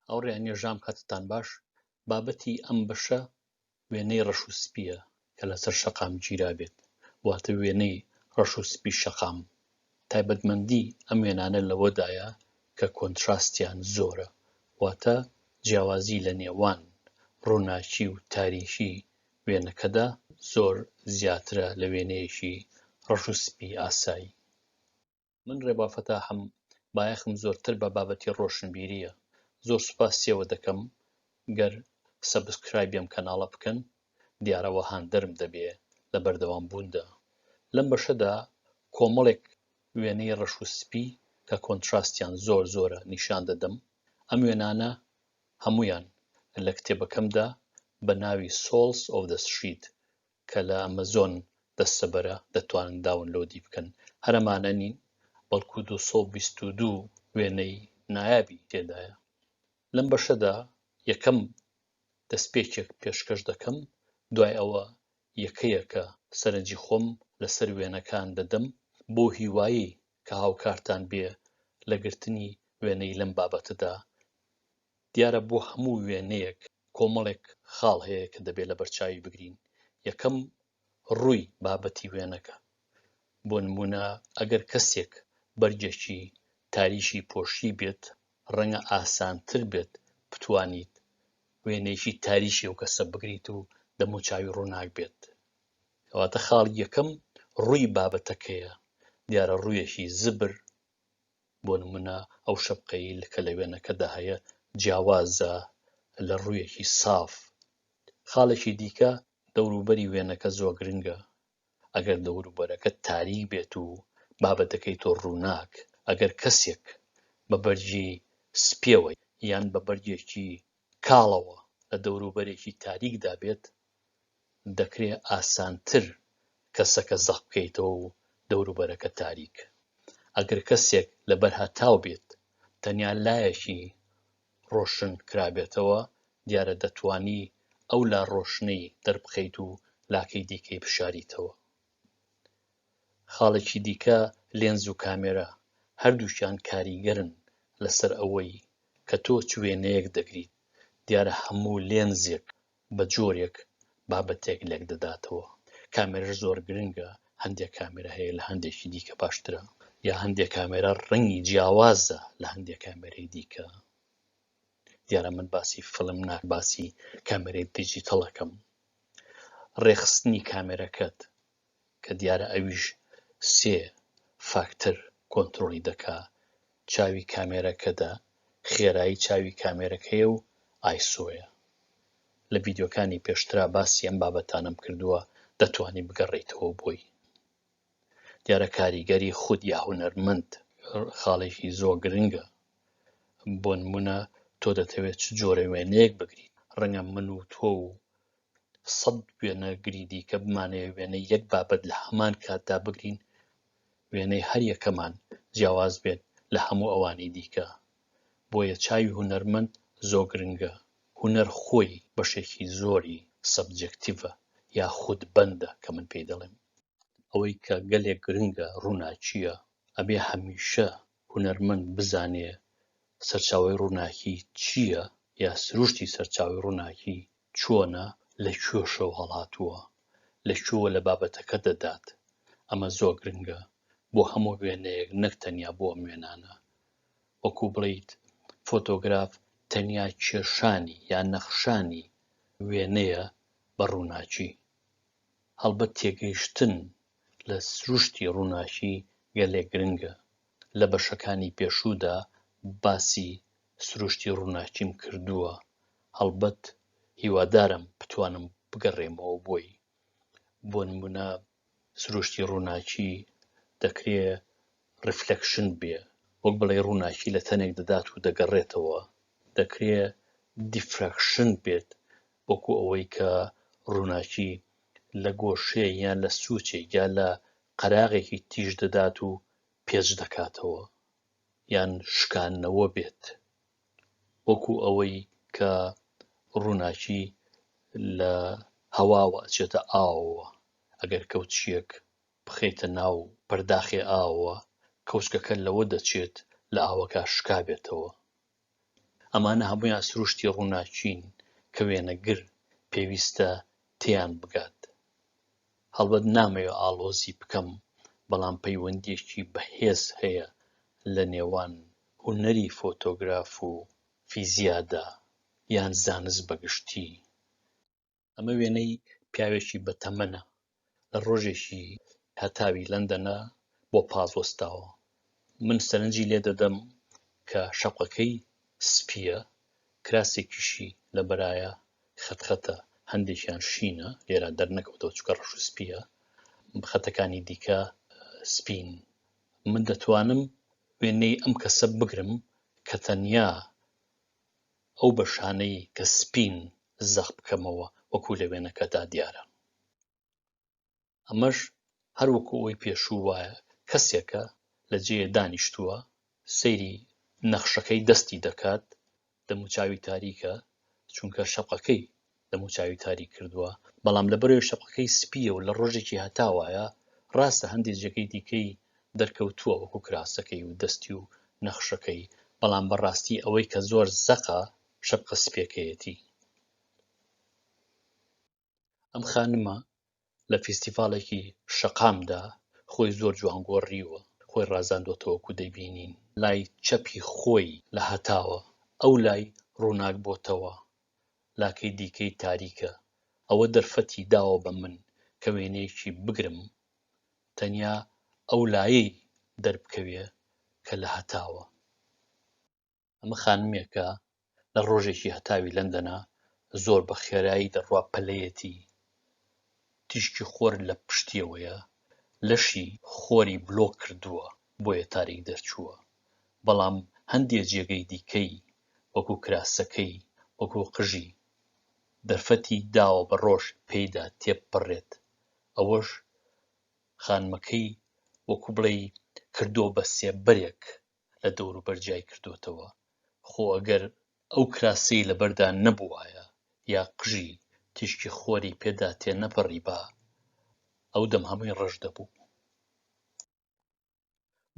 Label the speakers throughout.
Speaker 1: ئەو ڕێ نێژام کاتتان باش بابەتی ئەم بەشە وێنەی ڕەش و سپیە کە لەسەر شەقام گیرا بێت واتە وێنەی ڕەش و سپی شەقام تایبەتمەندی ئەم وێنانە لەوەدایە کە کۆنتراستیان زۆرە واتە جیاوازی لە نێوان ڕووناکی و تاریکی وێنەکەدا زۆر زیاترە لە وێنەیەکی ڕەش و سپی ئاسایی من رێبا فەتاحم بایەخم زۆرتر بە بابەتی ڕۆشنبیریە زۆر سوپاس سێوە دەکەم گەر سەبسکرایبیەم کەناڵە بکەن دیارەوە هاندەرم دەبێ لە بەردەوام بووندا لەم بەشەدا کۆمەڵێک وێنەی ڕەش و سپی کە کۆنتراستیان زۆر زۆرە نیشان دەدەم ئەم وێنانە هەمویان لە کتێبەکەمدا بە ناوی سۆڵس ئۆف دە سشید کە لە ئەمەزۆن دەستەبەرە دەتوانن داونلۆدی بکەن هەر ئەمانە نین بەڵکو 222 وێنەی نایابی تێدایە لەم بەشەدا یەکەم دەستپێکێک پێشکەش دەکەم دوای ئەوە یەکەیەکە سەرنجی خۆم لەسەر وێنەکان دەدەم بۆ هیوایی کە هاوکارتان بێ لە گرتنی وێنەی لەم بابەتەدا دیارە بۆ هەموو وێنەیەک کۆمەڵێک خاڵ هەیە کە دەبێت لەبەرچاوی بگرین، یەکەم ڕووی بابەتی وێنەکە، بۆ نموونە ئەگەر کەسێک بەرگێکی تاریکی پۆشیبێت ڕەنگە ئاسانتر بێت بتوانیت وێنەیەکی تاریکی ئەو کەسە بگریت و دەموچاوی ڕووناک بێت، کەواتە خاڵی یەکەم ڕووی بابەتەکەیە، دیارە ڕوویەکی زبر بۆ نمونە ئەو شەپقەی لکە لە وێنەکەدا هەیە جیاوازە لە ڕوویەکی ساف خاڵێکی دیکە دەوروبەری وێنەکە زۆر گرنگە ئەگەر دەوروبەرەکە تاریک بێت و بابەتەکەی تۆ ڕووناک ئەگەر کەسێک بە بەرگی سپیەوەی یان بە بەرگێکی کاڵەوە لە دەوروبەرێکی تاریکدا بێت، دەکرێت ئاسانتر کەسەکە زەق بکەیتەوە و دەوروبەرەکە تاریک. ئەگەر کەسێک لەبەر هەتاو بێت، تەنیا لایەکی ڕۆشن کرابێتەوە، دیارە دەتوانی ئەو لا ڕۆشنەی دەربخەیت و لاکەی دیکەی بشاریتەوە. خاڵێکی دیکە لێنز و کامێرا، هەردووکیان کاریگەرن لەسەر ئەوەی کە تۆ چ وێنەیەک دەگریت، دیارە هەموو لێنزێک بە جۆرێک بابەتێک لێک دەداتەوە، کامێراش زۆر گرنگە، هەندێک کامێرا هەیە لە هەندێکی دیکە باشترە، یا هەندێک کامێرا ڕەنگی جیاوازە لە هەندێک کامێرەی دیکە. دیارە من باسی فلم ناک باسی کامێرەی دیجیتەڵەکەم ڕێخستنی کامێرەکەت کە دیارە ئەویش سێ فاکتەر کۆنتترۆلی دەکا چاوی کامێرەکەدا خێرایی چاوی کامێرەکەیە و ئایسۆیە لە ڤیددیوکانی پێشترا باسی ئەم بابەتانم کردووە دەتوانی بگەڕیتەوە بۆی دیارە کاریگەری خود یا هونەرمەند خاڵێکی زۆر گرنگە بۆ نمونە تۆ دەتەوێت چ جۆرە وێنەیەک بگریت ڕەنگە من و تۆ و سەد وێنەگری دیکە بمانەیە وێنە یەک بابەت لە هەمان کاتدا بگرین وێنەی هەر یەکەمان جیاواز بێت لە هەموو ئەوانی دیکە بۆیە چاوی هونەرمەند زۆ گرنگە هونەر خۆی بەشێکی زۆری سەبجێکتیڤە یا خود بەندە کە من پێی دەڵێم ئەوەی کە گەلێک گرنگە ڕوناکیە ئەبێ هەمیشە هونەرمەند بزانێ سەرچاوەی ڕوناکی چیە یا سروشتی سەرچاوەی ڕوناکی چۆنە لە کوێشەوە هەڵاتووە لە کوێوە لە بابەتەکە دەدات ئەمە زۆر گرنگە بۆ هەموو وێنەیەک نەک تەنیا بۆ ئەم وێنانە وەکو بڵیت فۆتۆگراف تەنیا کێشانی یان نەخشانی وێنەیە بە ڕووناکی هەڵبەت تێگەیشتن لە سروشتی ڕووناکی گەلێک گرنگە لە بەشەکانی پێشوودا باسی سروشتی ڕووناکیم کردووە، هەڵبەت هیوادارم بتوانم بگەڕێمەوە بۆی. بۆ نموونە سروشتی ڕووناکی دەکرێ ڕیفلەکشن بێ، وەک بڵێی ڕووناکی لە تەنێک دەدات و دەگەڕێتەوە، دەکرێ دیفراکشن بێت وەکو ئەوەی کە ڕووناکی لە گۆشەیەک یان لە سووچێک یا لە قەراغێکی تیژ دەدات و پێچ دەکاتەوە یان شکانەوە بێت وەکو ئەوەی کە ڕووناکی لە هەواوە ئەچێتە ئاوەوە ئەگەر کەوتشیەک بخەیتە ناو پەرداخێ ئاوە کەوچکەکە لەوە دەچێت لە ئاوەکە شکابێتەوە ئەمانە هەموویان سروشتی ڕووناکین کە وێنەگر پێویستە تێیان بگات. هەڵبەت نامەوێ ئاڵۆزی بکەم، بەڵام پەیوەندییەکی بەهێز هەیە لە نێوان هونەری فۆتۆگراف و فیزیادا یان زانست بە گشتی. ئەمە وێنەی پیاوێکی بەتەمەنە لە ڕۆژێکی هەتاوی لەندەنە بۆ پاز وەستاوە من سەرنجی لێ دەدەم کە شەقەکەی سپیە کراسێکیشی لە بەرایە خەتخەتە هەندێکیان شینە لێرا دەرنەکەوتەوە چکە ڕەش و سپیە خەتەکانی دیکە سپین من دەتوانم وێنەی ئەم کەسە بگرم کە تەنیا ئەو بەشانەی کە سپین زەق بکەمەوە وەکو لە وێنەکەدا دیارە ئەمەش هەر وەکو ئەوی پێشوو وایە کەسێکە لە جێیە دانیشتووە سەیری نەخشەکەی دەستی دەکات دەموچاوی تاریکە چونکە شەقەکەی دەموچاوی تاریک کردووە، بەڵام لەبەرەوەی شەقەکەی سپییە و لە ڕۆژێکی هەتا وایە، ڕاستە هەندێ جێگەی دیکەی دەرکەوتووە وەکو کراسەکەی و دەستی و نەخشەکەی، بەڵام بە ڕاستی ئەوەی کە زۆر زەقە شەپقە سپییەکەیەتی. ئەم خانمە لە فیستیڤاڵێکی شەقامدا خۆی زۆر جوان گۆڕیوە، خۆی ڕازاندۆتەوە کو دەیبینین لای چەپی خۆی لە هەتاوە ئەو لای ڕووناک بۆتەوە لاکەی دیکەی تاریکە، ئەوە دەرفەتی داوە بە من کە وێنەیەکی بگرم تەنیا ئەو لایەی دەربکەوێ کە لە هەتاوە. ئەمە خانمێکە لە ڕۆژێکی هەتاوی لەندەنا زۆر بە خێرایی دەڕوا پەلەیەتی تیشکی خۆر لە پشتیەوەیە لەشی خۆری بلۆ کردووە بۆیە تاریک دەرچووە بەڵام هەندێک جێگەی دیکەی وەکو کراسەکەی وەکو قژی دەرفەتی داوە بە ڕۆژ پێیدا تێپەڕێت ئەوەش خانمەکەی وەکو بڵێ کردو بە سێبەرێک لە دەوروبەر جیای کردۆتەوە، خۆ ئەگەر ئەو کراسەی لەبەردا نەبووایە یا قژی تیشکی خۆری پێدا تێنەپەڕیبا، ئەو دەم هەمووی ڕەش دەبوو.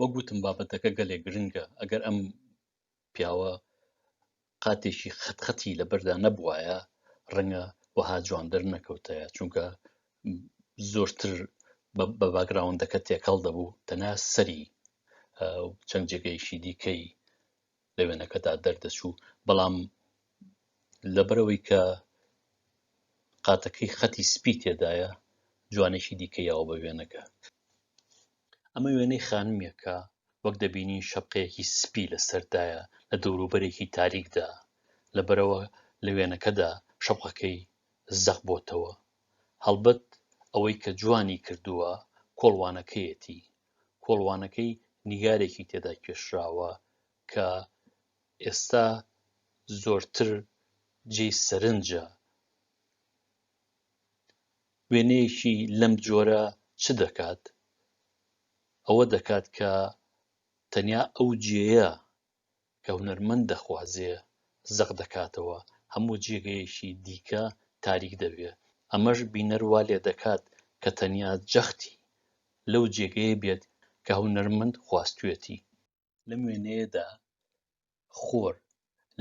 Speaker 1: وەک وتم بابەتەکە گەلێک گرنگە، ئەگەر ئەم پیاوە قاتێکی قەت قەتی لەبەردا نەبوایە ڕەنگە وەها جوان دەرنەکەوتایە چونکە زۆرتر بە باگراوندەکە تێکەڵ دەبوو تەنا سەری چەند جێگەیشی دیکەی لە وێنەکەدا دەردەچوو بەڵام لەبەرەوەی کە قاتەکەی خەتی سپی تێدایە جوانێکی دیکەیەوە بە وێنەکە ئەمە وێنەی خانمێکە وەک دەبینین شەپقەیەکی سپی لەسەردایە لە دەوروبەرێکی تاریکدا لەبەرەوە لە وێنەکەدا شەپقەکەی زەق بۆتەوە هەڵبەت ئەوەی کە جوانی کردووە کۆڵوانەکەیەتی کۆڵوانەکەی نیگارێکی تێدا کێشراوە کە ئێستا زۆرتر جێی سەرنجە وێنەیەکی لەم جۆرە چ دەکات؟ ئەوە دەکات کە تەنیا ئەو جێیە کە هونەرمەند دەخوازێ زەق دەکاتەوە، هەموو جێگەیەکی دیکە تاریک دەبێ، ئەمەش بینەر وا لێ دەکات کە تەنیا جەختی لەو جێگەیە بێت کە هونەرمەند خواستوویەتی. لەم وێنەیەدا خۆر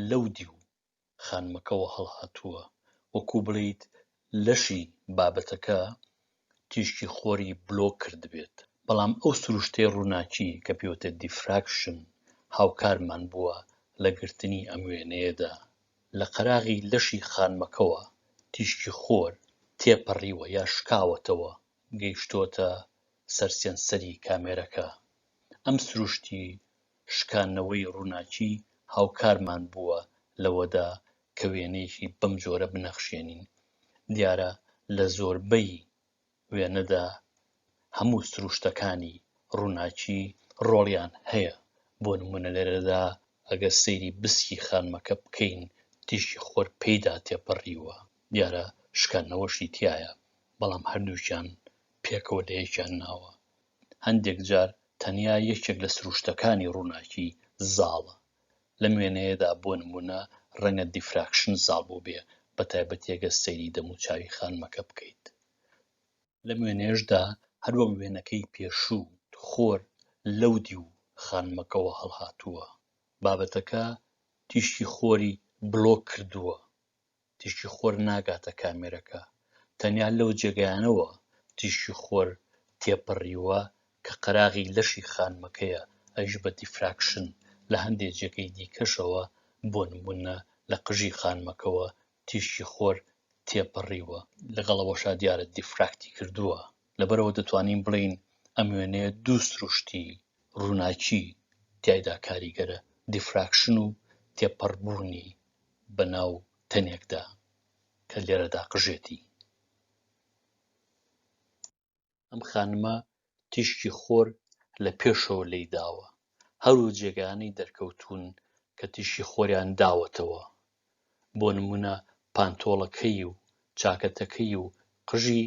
Speaker 1: لەو دیو خانمەکەوە هەڵهاتووە، وەکوو بڵێیت لەشی بابەتەکە تیشکی خۆری بلۆک کردبێت. بەڵام ئەو سروشتەی ڕووناکی کە پێوتە دیفراکشن هاوکارمان بووە لە گرتنی ئەم وێنەیەدا. لە قەراغی لەشی خانمەکەوە تیشکی خۆر تێپەڕیوە یا شکاوەتەوە گەیشتۆتە سەر سێنسەری کامێرەکە. ئەم سروشتی شکاندنەوەی ڕووناکی هاوکارمان بووە لەوەدا کە وێنەیەکی بەم جۆرە بنەخشێنین. دیارە لە زۆربەی وێنەدا هەموو سروشتەکانی ڕووناکی ڕۆڵیان هەیە، بۆ نموونە لێرەدا ئەگەر سەیری بسکی خانمەکە بکەین تیشکی خۆر پێیدا تێپەڕیوە، دیارە شکاندنەوەشی تیایە، بەڵام هەردووکیان پێکەوە لە یەکیان ناوە، هەندێک جار تەنیا یەکێک لە سروشتەکانی ڕووناکی زاڵە، لەم وێنەیەدا بۆ نموونە ڕەنگە دیفراکشن زاڵ بووبێ، بە تایبەتی ئەگەر سەیری دەموچاوی خانمەکە بکەیت. لەم وێنەیەشدا هەر وەک وێنەکەی پێشوو، خۆر لەو دیو خانمەکەوە هەڵهاتووە، بابەتەکە تیشکی خۆری بلۆک کردووە، تیشکی خۆر ناگاتە کامێرەکە، تەنیا لەو جێگایانەوە تیشکی خۆر تێپەڕیووە کە قەراغی لەشی خانمەکەیە ئەویش بە دیفراکشن، لە هەندێ جێگەی دیکەشەوە بۆ نموونە لە قژی خانمەکەوە تیشکی خۆر تێپەڕیووە، لەگەڵ ئەوەشا دیارە دیفراکتی کردووە، لەبەرئەوە دەتوانین بڵێین ئەم وێنەیە دوو سروشتی ڕووناکی تیایدا کاریگەرە، دیفراکشن و تێپەڕبوونی بە ناو تەنێکدا کە لێرەدا قژێتی. ئەم خانمە تیشکی خۆر لە پێشەوە لێی داوە، هەروو جێگانەی دەرکەوتوون کە تیشکی خۆریان داوەتەوە، بۆ نموونە پانتۆڵەکەی و چاکەتەکەی و قژی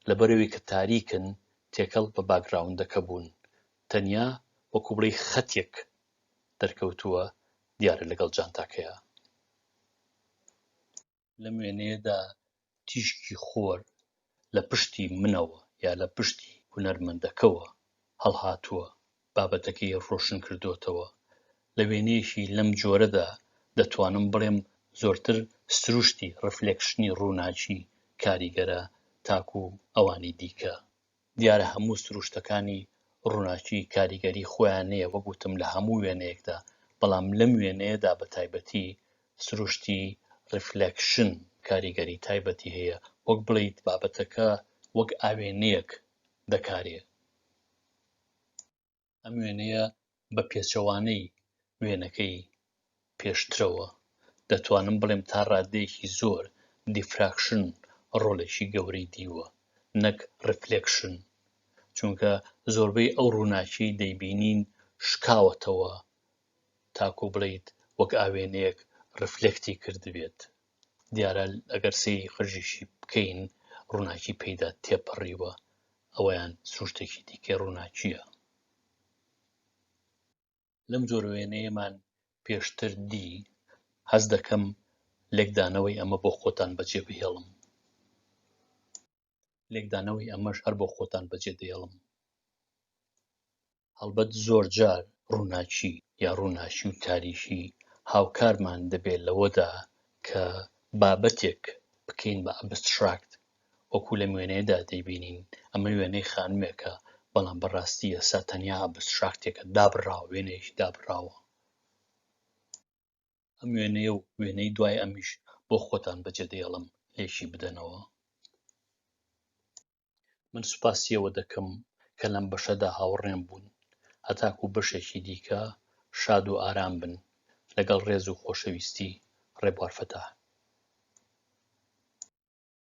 Speaker 1: لەبەرەوەی کە تاریکن تێکەڵ بە باکگراوندەکە بوون، تەنیا وەکو بڵێی خەتێک دەرکەوتووە دیارە لەگەڵ جانتاکەیا. لەم وێنەیەدا تیشکی خۆر لە پشتی منەوە یا لە پشتی هونەرمەندەکەوە هەڵهاتووە بابەتەکەی ڕۆشن کردوتەوە لە وێنەیەکی لەم جۆرەدا دەتوانم بڵێم زۆرتر سروشتی ڕفلێکشنی ڕووناکی کاریگەرە تاکو ئەوانی دیکە دیارە هەموو سروشتەکانی ڕووناکی کاریگەری خۆیان نەیە وەک وتم لە هەموو وێنەیەکدا بەڵام لەم وێنەیەدا بە تایبەتی سروشتی ڕیفلەکشن کاریگەری تایبەتی هەیە وەک بڵیت بابەتەکە وەک ئاوێنەیەک دەکارێ ئەم وێنەیە بە پێچەوانەی وێنەکەی پێشترەوە دەتوانم بڵێم تا ڕادەیەکی زۆر دیفراکشن ڕۆلێکی گەورەی دیوە نەک ڕفلکشن چونکە زۆربەی ئەو ڕووناکی دەیبینین شکاوەتەوە تاکو بڵیت وەک ئاوێنەیەک ڕفلکتی کردبێت دیارە ئەگەر سەیری قژیشی بکەین ڕووناکی پێیدا تێپەڕیوە ئەویان سروشتێکی دیکەی ڕووناکیە لەم جۆر وێنەیەمان پێشتر دی هەز دەکەم لێکدانەوەی ئەمە بۆ خۆتان بەجێ بهێڵم لێکدانەوەی ئەمەش هەر بۆ خۆتان بەجێ دێڵم هەڵبەت زۆر جار ڕووناکی یا ڕووناکی و تاریشی هاوکارمان دەبێت لەوەدا کە بابەتێک بکەین بە ئەبستراکت وەکو لە وێنەیەدا دەیبینین ئەمە وێنەی خانمێکە بەڵام بەڕاستی ئێستا تەنیا ئەبستراکتێکە دابراوە وێنەیەکی دابراوە ئەم وێنەیە و وێنەی دوای ئەمیش بۆ خۆتان بەجێ دەیەڵم لێکی بدەنەوە من سوپاسیەوە دەکەم کە لەم بەشەدا هاوڕێم بوون هەتاکو بەشێکی دیکە شاد و ئارام بن لەگەڵ ڕێز و خۆشەویستی ڕێبوارفەتە